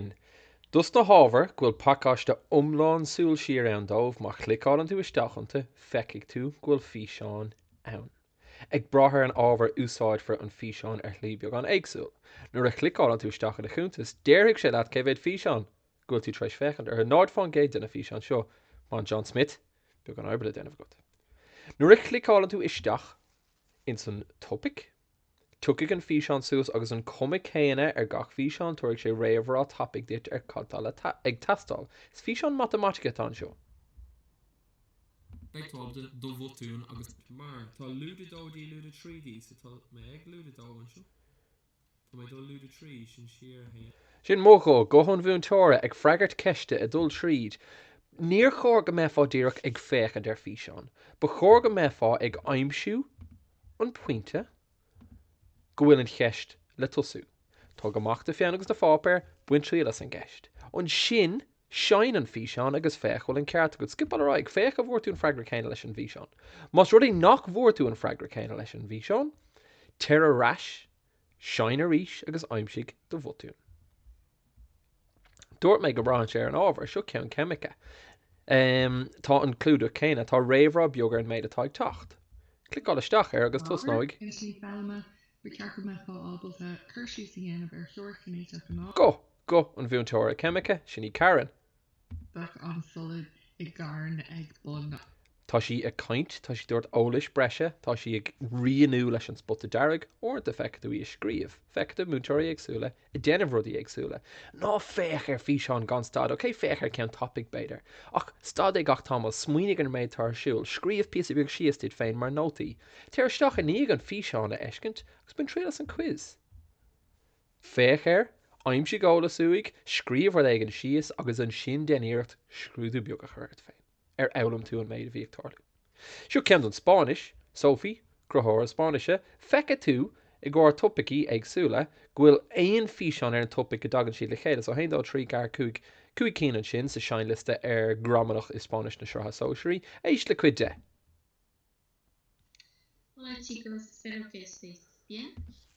sin. Dos na hábhair go bhfuil pacáiste iomlán súil siar ann dóibh, má chliceálann tú isteach iontu feicfidh tú go bhfuil físeáin ann. Ag brath ar an ábhar úsáidfear an físeán ar shlí beagán éagsúil. Nuair a chliceálann tú isteach i do chuntas déarfaidh sé leat cé mhéad físeán go bhfuil tú tar éis féachaint orthu, 0% de na físeáin seo mar an John Smith, beagán oibre le déanamh agat. Nuair a chliceálann tú isteach ins an topaic. Tiocfaidh an físeán suas agus an cuma céanna ar gach físeán, tabharfaidh sé réamhrá tapaidh duit ar cad tá le ag teastáil. Is físeán matamaitice atá anseo. Beidh táb de do bhotúin agus. Mar, tá lúide 2D, lúide 3D so tá mé ag lúide 2 anseo. Tá mé dul lúide 3, sin siar 1. Sin mo ghuth, guth an mhúinteora ag freagairt ceiste ag dul tríd. Níor chóir go mbeifeá díreach ag féachaint ar físeán. Ba chóir go mbeifeá ag aimsiú. an pointe go bhfuil an cheist le tosú. Tóg amach do pheann agus do pháipéar, bain triail as an gceist. Ansin seinn an físeán agus féach an bhfuil an ceart agat. Scipeáil ar aghaidh. Féach an bhfuair tú an freagra céanna leis an bhfíseán. Más rud é nach bhfuair tú an freagra céanna leis an bhfíseán, téir ar ais, Seinn arís agus aimsigh do bhotún. Dúirt mé go mbraitheann sé ar an ábhar. Seo ceann ceimice. Tá an clúdach céanna. Tá réamhrá beag ar an méid atá ag teacht. Cliceáil isteach air agus tosnóidh. Intinní foghlama, ba cheart go mbeifeá ábalta cur síos a dhéanamh ar theoiric chinéiteach an. Guth, guth an mhúinteora ceimice, sin í Karen. Bheadh an solad i gcarn ag bun na. Tá sí ag caint, tá sí ag tabhairt eolais breise, tá sí ag rianú leis an spota dearg, uaireanta feicfidh tú í ag scríobh, feicfidh tú múinteoirí éagsúla ag déanamh rudaí éagsúla. Ná féach ar físeán gan stad, ok, féach ar ceann tapaidh b'fhéidir, ach stad é gach tamall, smaoinigh ar an méid atá ar siúl, scríobh píosa beag síos duit féin mar nótaí, téir isteach i ndiaidh an físeán a fheiscint agus bain triail as an quiz. Féach air, aimsigh eolas uaidh, scríobh rud éigin síos agus ansin déan iarracht scrúdú beag a chur ort féin. Ar fhoghlaim tú an méid a bhí ag tarlú? Seo ceann don Spáinnis, Sophie, Cruthaitheoir Spáinnise, Feicfidh tú i gcomhair topaicí éagsúla go bhfuil aon físeán ar an topaic go dtagann siad le chéile. So, haon, dó, trí, ceathair, cúig, cúig cinn ansin sa seinnliosta ar Gramadach i Spáinnis na Sraithe Sóisearaí. Éist le cuid de. Hola chicos, espero que estéis bien.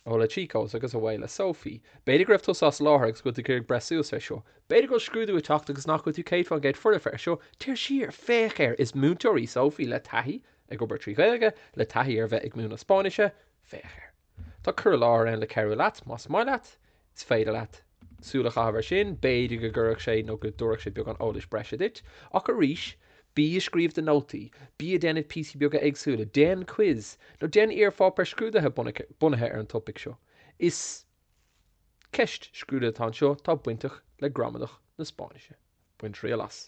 Hola chicos agus away le Sophie. B'fhéidir go raibh tusa as láthair agus go bhfuil tú ag iarraidh breith suas air seo. B'fhéidir go bhfuil scrúdú ag teacht agus nach bhfuil tú 100% foirfe air seo, téir siar, féach air, is múinteoir í Sophie le taithí ag obair trí Ghaeilge, le taithí ar a bheith ag múineadh Spáinnise, féach air. Tá cur i láthair ann le cabhrú leat, más maith leat, Is féidir leat súil a chaitheamh ar sin, b'fhéidir go gcuirfeadh sé nó go dtabharfadh sé beagán eolais breise duit. Ach arís, bí ag scríobh do nótaí, bí ag déanamh píosaí beaga éagsúla, déan quiz, nó déan iar-pháipéar scrúdaithe bunaithe ar an topaic seo. Is ceist scrúdaithe atá anseo atá bainteach le gramadach na Spáinnise. Bain triail as.